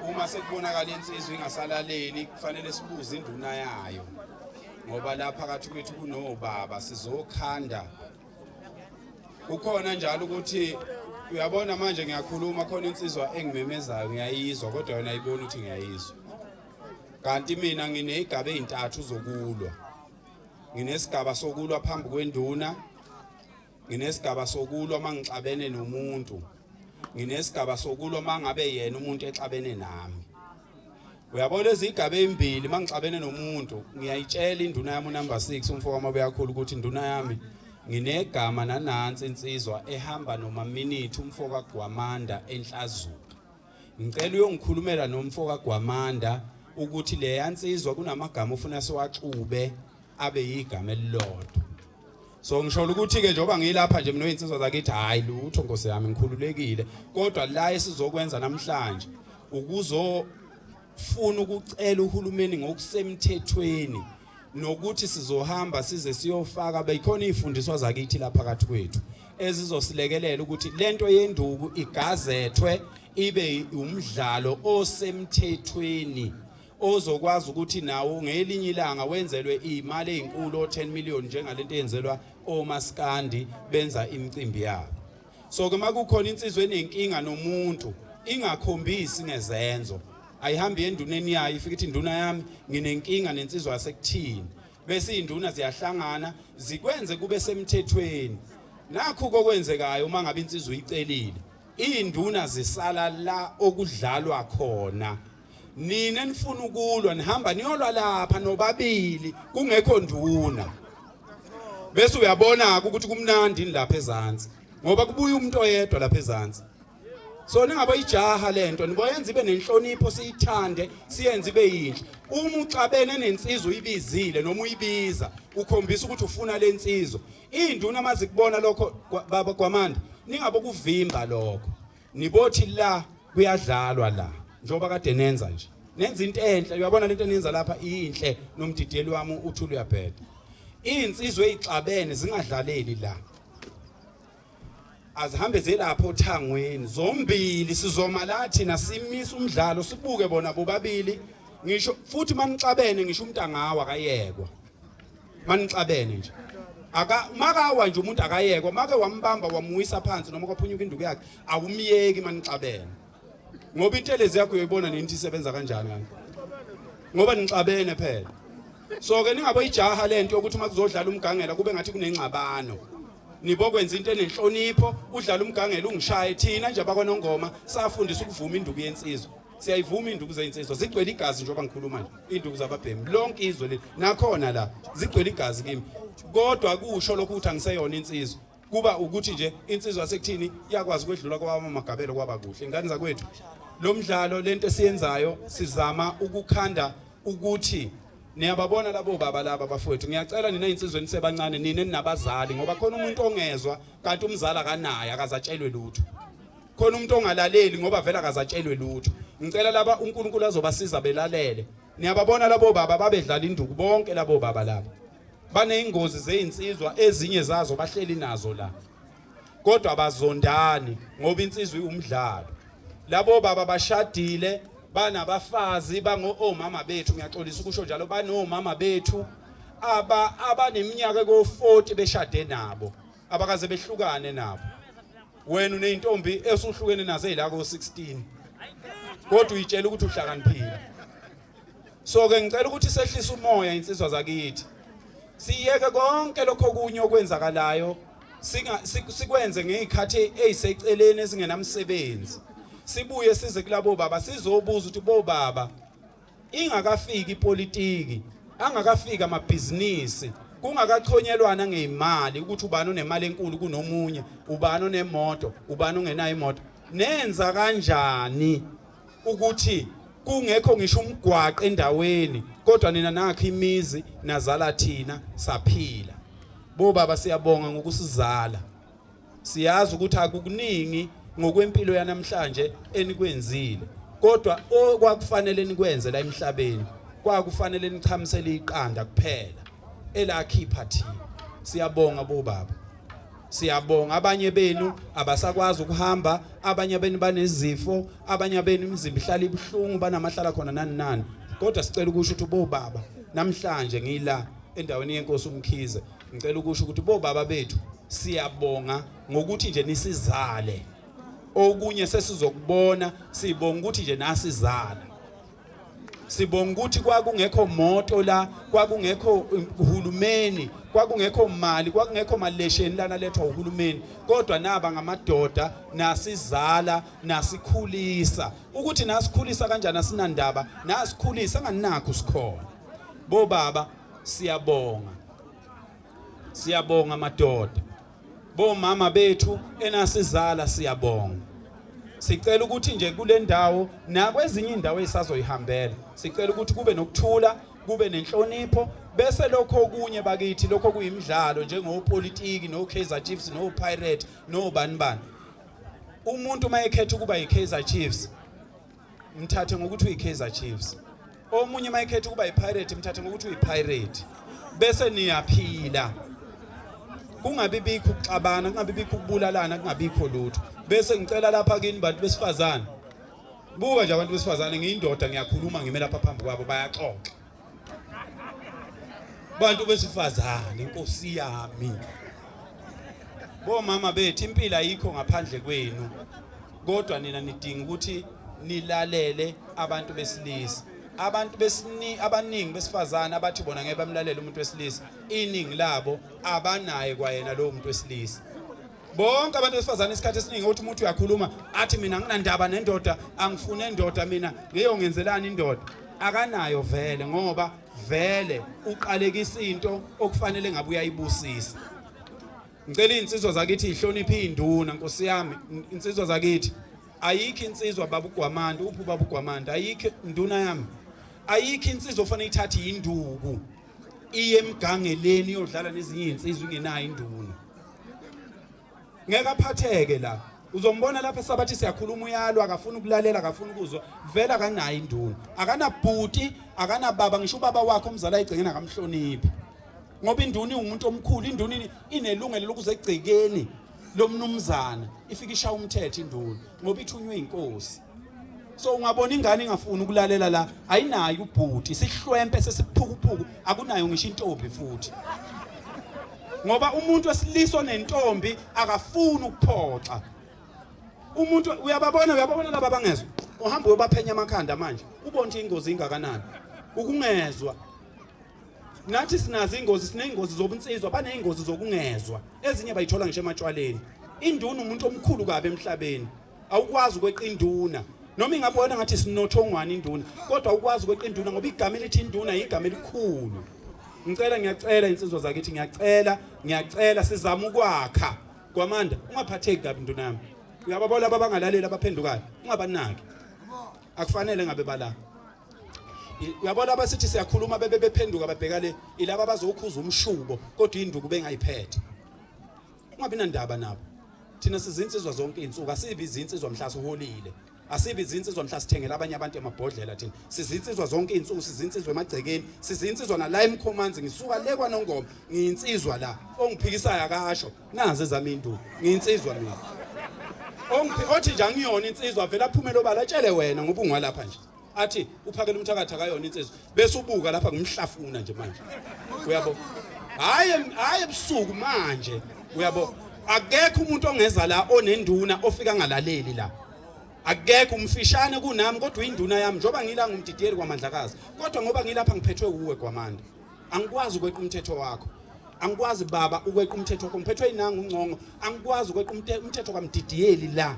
uma sekubonakala insizwa ingasalaleli kufanele sibuze induna yayo ngoba la phakathi kwethu kunobaba sizokhanda kukhona njalo ukuthi uyabona manje ngiyakhuluma khona insizwa engimemezayo ngiyayizwa kodwa yona ayiboni ukuthi ngiyayizwa kanti mina ngineyigaba ezintathu zokulwa nginesigaba sokulwa phambi kwenduna nginesigaba sokulwa uma ngixabene nomuntu nginesigaba sokulwa uma ngabe yena umuntu exabene nami uyabona izigaba ezimbili uma ngixabene nomuntu ngiyayitshela induna yami unumber 6 umfo wami obeyakhulu ukuthi induna yami nginegama nanansi insizwa ehamba noma minute umfo kaGwamanda enhlazuka ngicela uyongikhulumela nomfo kaGwamanda ukuthi leya nsizwa kunamagama ufuna siwaxube abe yigama elilodwa so ngisholo ukuthi ke njengoba ngilapha nje mina oyinsizwa zakithi hayi lutho nkosi yami ngikhululekile kodwa la esizokwenza namhlanje ukuzo funa ukucela uhulumeni ngokusemthethweni nokuthi sizohamba size siyofaka beyikhona izifundiswa zakithi lapha kathi kwethu ezizosilekelela ukuthi lento yenduku igazethwe ibe umdlalo osemthethweni ozokwazi ukuthi nawo ngelinye ilanga wenzelwe imali ezinkulu o 10 million njengalento eyenzelwa omaskandi benza imicimbi yabo so ke makukhona insizwe enenkinga nomuntu ingakhombisi ngezenzo ayihambi enduneni yayo ifike ithi induna yami nginenkinga nensizwa yasekuthini bese induna ziyahlangana zikwenze kube semthethweni nakho kokwenzekayo uma ngabe insizwa uyicelile induna zisala la okudlalwa khona nina enifuna ukulwa nihamba niyolwa lapha nobabili kungekho nduna bese uyabona-ke ukuthi kumnandi yini lapha ezansi ngoba kubuya umuntu oyedwa lapha ezansi so ningabe ijaha le nto niboyenza ibe nenhlonipho siyithande siyenze ibe yinhle uma uxabene nensizwa uyibizile noma uyibiza ukhombisa ukuthi ufuna le nsizwa iy'nduna uma zikubona lokho baba kwamanda ningabe kuvimba lokho Nibothi la kuyadlalwa la njengoba kade nenza nje. Nenza into enhle uyabona lento enenza lapha inhle nomdideli wami uthula uyabheda. Insizwe ezixabene zingadlaleli la. Azihambe zelapho thangweni zombili sizoma la thina simisa umdlalo sibuke bona bobabili ngisho futhi manixabene ngisho umntangawa kayekwa. manixabene nje aka makawa nje umuntu akayekwa make wambamba wamuwisa phansi noma kwaphunyuka induku yakhe awumyeki manixabene ngoba intelezi yakho uyoyibona nini isebenza kanjani kanti ngoba nixabene phela so ke ningaboyijaha lento yokuthi uma kuzodlala umgangela kube ngathi kunengxabano nibokwenza into enenhlonipho udlala umgangela ungishaye thina nje abakwanongoma safundisa ukuvuma induku yensizwa siyayivuma induku zezinsizwa zigcwele igazi njengoba ngikhuluma nje induku zababhemi lonke izwe leli nakhona la zigcwele igazi kimi kodwa kusho lokhu ukuthi angiseyona insizwa kuba ukuthi nje insizwa sekuthini iyakwazi ukwedlula kwabama magabelo kwaba kuhle ingane zakwethu lo mdlalo lento esiyenzayo sizama ukukhanda ukuthi niyababona labo baba laba bafowethu ngiyacela nina insizweni sebancane nina ninabazali ngoba khona umuntu ongezwa kanti umzali akanaye akazatshelwe lutho khona umuntu ongalaleli ngoba vele akazatshelwe lutho ngicela laba uNkulunkulu azobasiza belalele niyababona labo baba babedlala induku bonke labo baba laba baneyingozi zezinsizwa ezinye zazo bahleli nazo la kodwa bazondani ngoba insizwa iwumdlalo labo baba bashadile banabafazi bango omama bethu ngiyaxolisa ukusho njalo banomama bethu aba abaneminyaka ko40 beshade nabo abakaze behlukane nabo wena uneyintombi esuhlukene nazo ezila ko 16 kodwa uyitshela ukuthi uhlakaniphile so ke ngicela ukuthi sehlisa umoya insizwa zakithi siyeke konke lokho kunye okwenzakalayo singa sikwenze ngezikhathi eziseceleni ezingenamsebenzi sibuye size kulabo baba sizobuza ukuthi bo baba Ingakafiki ipolitiki, angakafiki amabhizinisi, kungakachonyelwana ngeyimali ukuthi ubani onemali enkulu kunomunye, ubani onemoto, ubani ongenayo imoto. Nenza kanjani ukuthi kungekho ngisho umgwaqo endaweni kodwa nina nakhe imizi nazala thina saphila. Bo baba siyabonga ngokusizala. Siyazi ukuthi akukuningi ngokwempilo yanamhlanje enikwenzile kodwa okwakufanele nikwenze la emhlabeni kwakufanele nichamisele iqanda kuphela elakhipha thina siyabonga bobaba siyabonga abanye benu abasakwazi ukuhamba abanye benu banezifo abanye benu imizimba ihlala ibuhlungu banamahlala khona nani nani kodwa sicela ukusho ukuthi bobaba namhlanje ngila endaweni yenkosi umkhize ngicela ukusho ukuthi bobaba bethu Siyabonga ngokuthi nje nisizale. Okunye sesizokubona sibonga ukuthi nje nasizala. Sibonga ukuthi kwakungekho moto la, kwakungekho um, uhulumeni, kwakungekho mali, kwakungekho malesheni lana lethwa uhulumeni. Kodwa naba ngamadoda nasizala, nasikhulisa. Ukuthi nasikhulisa kanjani asinandaba, nasikhulisa anganakho sikhona. Bo baba siyabonga. Siyabonga madoda. Bomama bethu enasizala siyabonga. Sicela ukuthi nje kule ndawo nakwezinye indawo esazoyihambela. Sicela ukuthi kube nokuthula, kube nenhlonipho bese lokho okunye bakithi lokho kuyimidlalo njengopolitiki no Kaizer Chiefs no Pirate no bani bani. Umuntu mayekhetha ukuba yiKaizer Chiefs mthathe ngokuthi uyi-kaizer chiefs omunye uma ekhetha ukuba yi-pirate mthathe ngokuthi uyi-pirate bese niyaphila kungabi bikho ukuxabana kungabi bikho ukubulalana kungabikho lutho bese ngicela lapha kini bantu besifazane buka nje abantu besifazane ngiyindoda ngiyakhuluma ngime lapha phambi kwabo bayaxoxa bantu besifazane inkosi yami bomama bethu impilo ayikho ngaphandle kwenu kodwa nina nidinga ukuthi nilalele abantu besilisa abantu besini abaningi besifazane abathi bona ngeke bamlalele umuntu wesilisa iningi labo abanaye kwayena lowo muntu wesilisa bonke abantu besifazane isikhathi esiningi ukuthi umuntu uyakhuluma athi mina nginandaba nendoda angifune indoda mina ngiyongenzelani indoda akanayo vele ngoba vele uqalekisa into okufanele ngabe uyayibusisa ngicela insizwa zakithi ihloniphe induna nkosi yami insizwa zakithi ayikho insizwa babugwamanda uphi babugwamanda ayikho induna yami ayikho insizwa ofanele ithathe induku iye emgangeleni yodlala nezinye izinsizwa ingenayo induna ngeke aphatheke la uzombona lapha sabathi siyakhuluma uyalwa akafuni ukulalela akafuni ukuzwa vele akanayo induna akanabhuti akanababa ngisho ubaba wakhe omzala ayigcengeni akamhloniphi ngoba induna iwumuntu omkhulu induna inelungelo lokuze egcekeni lomnumzana ifike ishaya umthetho induna ngoba ithunywe inkosi so ungabona ingane ingafuni ukulalela la ayinayo ubhuti sihlwempe sesiphukuphuku akunayo ngisho intombi futhi ngoba umuntu wesiliso nentombi akafuni ukuphoxa umuntu uyababona uyababona laba bangezwa uhamba uyobaphenya amakhanda manje ubona ukuthi ingozi ingakanani ukungezwa nathi sinazo ingozi sineyingozi zobunsizwa baneyingozi zokungezwa ezinye bayithola ngisho ematshwaleni induna umuntu omkhulu kabi emhlabeni awukwazi ukweqa induna noma ingabe wena ngathi sinothongwane induna kodwa ukwazi ukweqa induna ngoba igama elithi induna yigama elikhulu ngicela ngiyacela insizwa zakithi ngiyacela ngiyacela sizama ukwakha kwamanda ungaphatheki kabi induna yami uyababona laba abangalaleli abaphendukayo ungabanaki akufanele ngabe bala uyabona abasithi siyakhuluma bebe bephenduka babheka le ilaba bazokhuza umshubo kodwa induku bengayiphethe ungabi nandaba nabo thina sizinsizwa zonke izinsuku asibi izinsizwa mhla siholile asibi izinsizwa mhla sithengela abanye abantu emabhodlela thina sizinsizwa zonke izinsuku sizinsizwa emagcekeni sizinsizwa nala emkhomanzi ngisuka le kwanongoma ngiyinsizwa la ongiphikisayo akasho nazi ezami induku ngiyinsizwa mina ongiphi othi nje angiyona insizwa vele aphumele obala tshele wena ngoba ungwalapha nje athi uphakela umthakathi akayona insizwa bese ubuka lapha ngimhlafuna nje manje uyabo hayi hayi ebusuku manje uyabo akekho umuntu ongeza la onenduna ofika ngalaleli la akekho umfishane kunami kodwa induna yami njoba ngila ngumdidiyeli kwamandlakazi kodwa ngoba ngilapha ngiphethwe kuwe gwamanda angikwazi ukweqa umthetho wakho angikwazi baba ukweqa umthetho wakho ngiphethwe inanga uncongo angikwazi ukweqa umthetho kwamdidiyeli la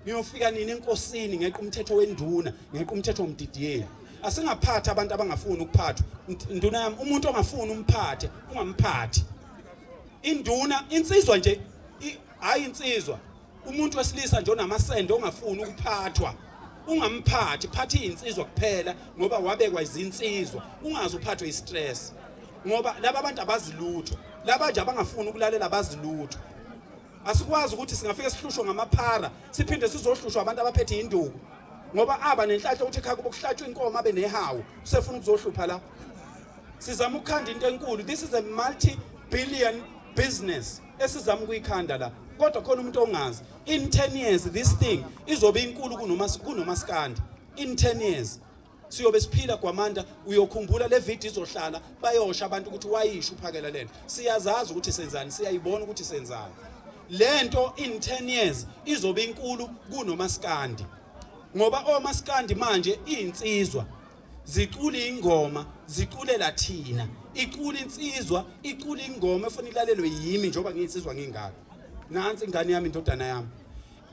Niyofika nini enkosini ngeqa umthetho wenduna, ngeqa umthetho womdidiyeli. Asingaphathi abantu abangafuni ukuphathwa. Induna yami umuntu ongafuni umphathe, ungamphathi. Induna insizwa nje hayi insizwa. Umuntu wesilisa nje onamasende ongafuni ukuphathwa. Ungamphathi, phathi insizwa kuphela ngoba wabekwa izinsizwa. Ungazi uphathwe istress. Ngoba laba bantu abazilutho. Laba nje abangafuni ukulalela abazilutho. Asikwazi ukuthi singafike sihlushwe ngamaphara siphinde sizohlushwa abantu abaphethe induku ngoba aba nenhlanhla ukuthi ekhaya kubo kuhlatshwa inkomo abe nehawu usefuna ukuzohlupha la sizama ukukhanda into enkulu this is a multi billion business esizama ukuyikhanda la kodwa khona umuntu ongazi in 10 years this thing izobe inkulu kunoma kunomaskandi in 10 years siyobe siphila gwamanda uyokhumbula le video izohlala bayosha abantu ukuthi wayisho uphakela lento siyazazi ukuthi senzani siyayibona ukuthi senzani lento in 10 years izobe inkulu kunomaskandi ngoba omaskandi manje insizwa zicule ingoma ziculela thina icule insizwa icule ingoma efuna ilalelwe yimi njengoba ngiyinsizwa ngingaka nansi ingane yami indodana yami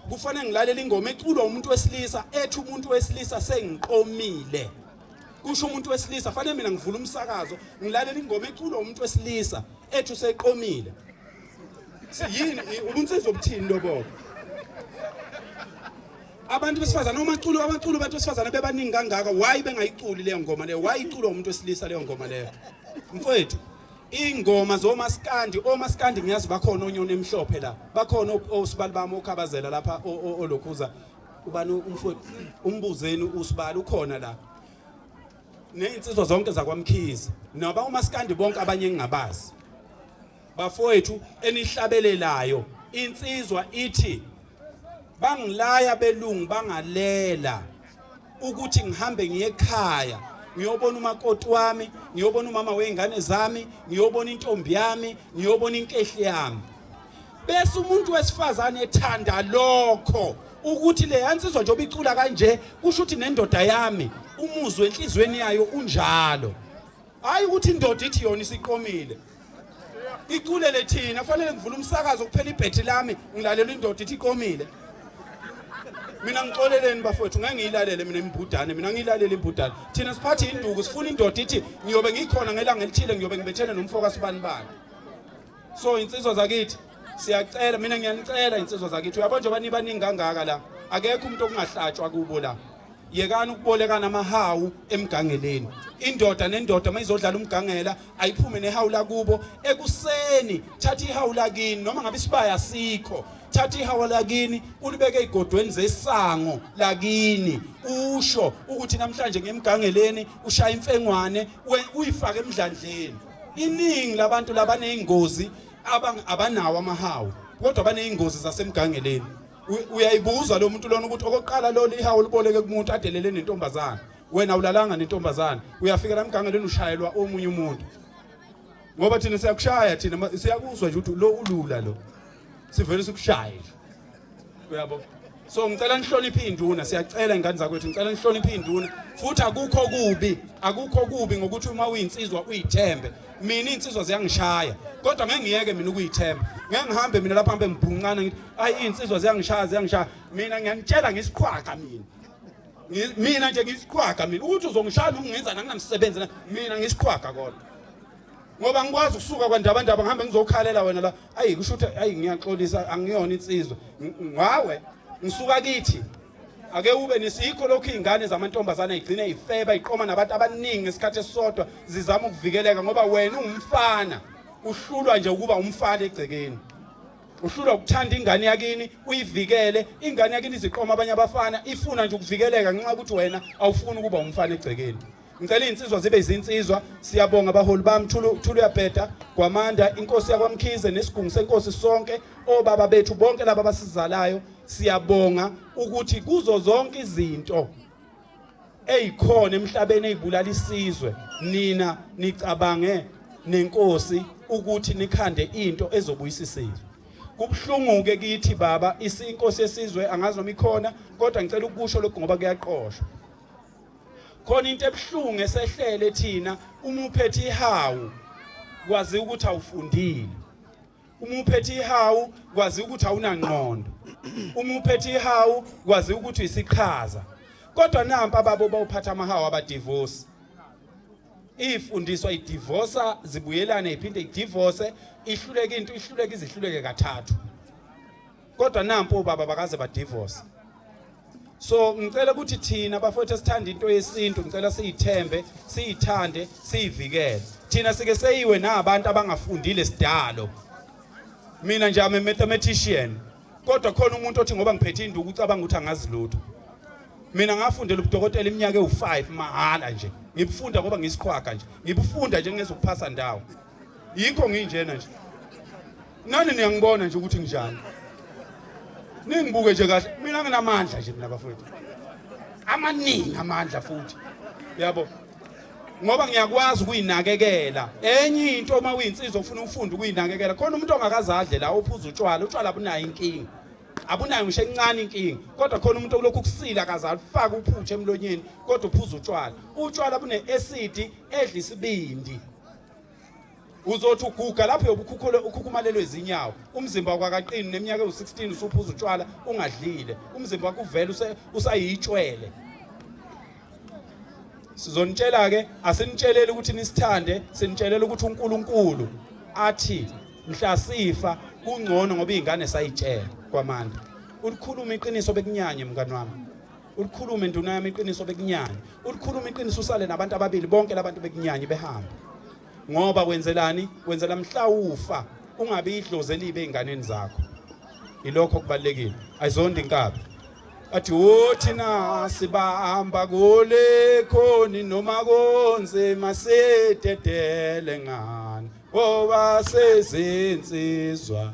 kufanele ngilalele ingoma eculwa umuntu wesilisa ethi umuntu wesilisa sengiqomile kusho umuntu wesilisa fanele mina ngivula umsakazo ngilalele ingoma eculwa umuntu wesilisa ethi useqomile yini ubunsizwa obuthini lobo abantu besifazane omaculo abaculo abantu besifazane bebaningi kangaka why bengayiculi leyo ngoma leyo why iculwa umuntu wesilisa leyo ngoma leyo mfowethu Ingoma zomaskandi, omaskandi ngiyazi bakhona onyoni emhlophe la. Bakhona osibali bami okhabazela lapha olokhuza. Ubani umfowethu umbuzeni usibali ukhona la. Nezinsizwa zonke zakwamkhize. Naba umaskandi bonke abanye engingabazi. Bafowethu enihlabelelayo insizwa ithi bangilaya belungu bangalela ukuthi ngihambe ngiye ekhaya ngiyobona umakoti wami ngiyobona umama wey'ngane zami ngiyobona intombi yami ngiyobona inkehli yami bese umuntu wesifazane ethanda lokho ukuthi le yansizwa njengoba icula kanje kusho ukuthi nendoda yami umuzwe enhliziyweni yayo unjalo hayi ukuthi indoda ithi yona isiqomile iculele thina kufanele ngivule umsakazo kuphela ibhethi lami ngilalela indoda ithi iqomile mina ngixoleleni bafowethu ngeke ngiyilalele mina imbudane mina ngiyilalele imbudane thina siphathe induku sifuna indoda ithi ngiyobe ngikhona ngelanga elithile ngiyobe ngibethene nomfoka sibani bani so insizwa zakithi siyacela mina ngiyanicela insizwa zakithi uyabona njengoba nibaningi kangaka la akekho umuntu okungahlatshwa kubo la yekani ukubolekana amahawu emgangeleni indoda nendoda uma izodlala umgangela ayiphume nehawu lakubo ekuseni thatha ihawu lakini noma ngabe isibaya asikho thatha ihawu lakini ulibeke ey'godweni zesango lakini usho ukuthi namhlanje ngemgangeleni ushaya imfengwane uyifake emdlandleni iningi labantu labaney'ngozi abanawo amahawu kodwa baney'ngozi zasemgangeleni uyayibuza lo muntu lona ukuthi okokuqala lona ihawu liboleke kumuntu adelele nentombazana wena ulalanga nentombazana uyafika la mgangeleni ushayelwa omunye umuntu ngoba thina siyakushaya thina siyakuzwa nje ukuthi lo ulula lo sivele sikushaye uyabo so ngicela nihloniphe induna siyacela ingane zakwethu ngicela nihloniphe induna futhi akukho kubi akukho kubi ngokuthi uma uyinsizwa uyithembe mina iy'nsizwa ziyangishaya kodwa ngeke ngiyeke mina ukuyithemba ngeke ngihambe mina lapha hambe ngibhuncane ngithi ayi iy'nsizwa ziyangishaya ziyangishaya mina ngiyanitshela ngisiqhwaga mina mina nje ngisiqhwaga mina ukuthi uzongishaya noma ungenzani anginamsebenzi mina ngisiqhwaga kodwa ngoba ngikwazi ukusuka kwandabandaba ngihambe ngizokhalela wena la ayi kusho ukuthi ayi ngiyaxolisa angiyona insizwa ngawe ngisuka kithi ake ube nisikho lokhu izingane zamantombazana igcine ifeba iqoma nabantu abaningi ngesikhathi esisodwa zizama ukuvikeleka ngoba wena ungumfana uhlulwa nje ukuba umfana egcekeni uhlulwa ukuthanda ingane yakini uyivikele ingane yakini iziqoma abanye abafana ifuna nje ukuvikeleka ngenxa ukuthi wena awufuni ukuba umfana egcekeni ngicela izinsizwa zibe izinsizwa siyabonga abaholi bami thulu thulu yabheda kwamanda inkosi yakwamkhize nesigungu senkosi sonke obaba bethu bonke laba abasizalayo siyabonga ukuthi kuzo zonke izinto eyikhona emhlabeni ezibulala isizwe nina nicabange nenkosi ukuthi nikhande into ezobuyisa isizwe kubuhlunguke kithi baba isinkosi yesizwe angazi noma ikhona kodwa ngicela ukusho lokho ngoba kuyaqoshwa khona into ebuhlungu esehlele thina uma uphethe ihawu kwazi ukuthi awufundile uma uphethe ihawu kwazi ukuthi awunangqondo uma uphethe ihawu kwazi ukuthi uyisiqhaza kodwa nampa ababo bawuphatha amahawu abadivorce ifundiswa idivosa zibuyelane iphinde idivorce ihluleke into ihluleke izihluleke kathathu kodwa nampo obaba bakaze badivorce so ngicela ukuthi thina bafowethu esithanda into yesintu ngicela siyithembe siyithande siyivikele thina sike seyiwe nabantu abangafundile sidalo mina nje ame mathematician kodwa khona umuntu othi ngoba ngiphethe induku ucabanga ukuthi angazi lutho mina ngafundela ubudokotela iminyaka ewu5 mahala nje ngibufunda ngoba ngisiqhwaga nje ngibufunda nje ngezokuphasa ndawo yikho nginjena nje nani niyangibona nje ukuthi nginjani ningibuke nje kahle mina nginamandla nje mina bafowethu amaningi amandla futhi yabo ngoba ngiyakwazi ukuyinakekela enye into uma uyinsizwa ufuna ufunda ukuyinakekela khona umuntu ongakazadle la ophuza utshwala utshwala abunayo inkinga abunayo ngisho encane inkinga kodwa khona umuntu olokhu ukusila akazalifaka uphutshe emlonyeni kodwa uphuza utshwala utshwala bune-acid edla isibindi uzothi uguga lapho yobukhukhule ukhukhumalelwe izinyawo umzimba kwakaqini neminyaka ewu-16 usuphuza utshwala ungadlile umzimba wakho uvele usayitshwele sizonitshela ke asinitsheleli ukuthi nisithande sinitshelela ukuthi uNkulunkulu athi mhla sifa kungcono ngoba izingane sayitshela kwamandla ulikhuluma iqiniso bekunyanye mngani wami ulikhulume nduna yami iqiniso bekunyanya ulikhulume iqiniso usale nabantu ababili bonke labantu bekunyanya behamba ngoba wenzelani wenzela mhlawufa ungabe idlozi elibe ezinganeni zakho ilokho kubalekile ayizondi inkabi athi wothi na sibahamba kule khoni noma konze masededele ngani ngoba sezinsizwa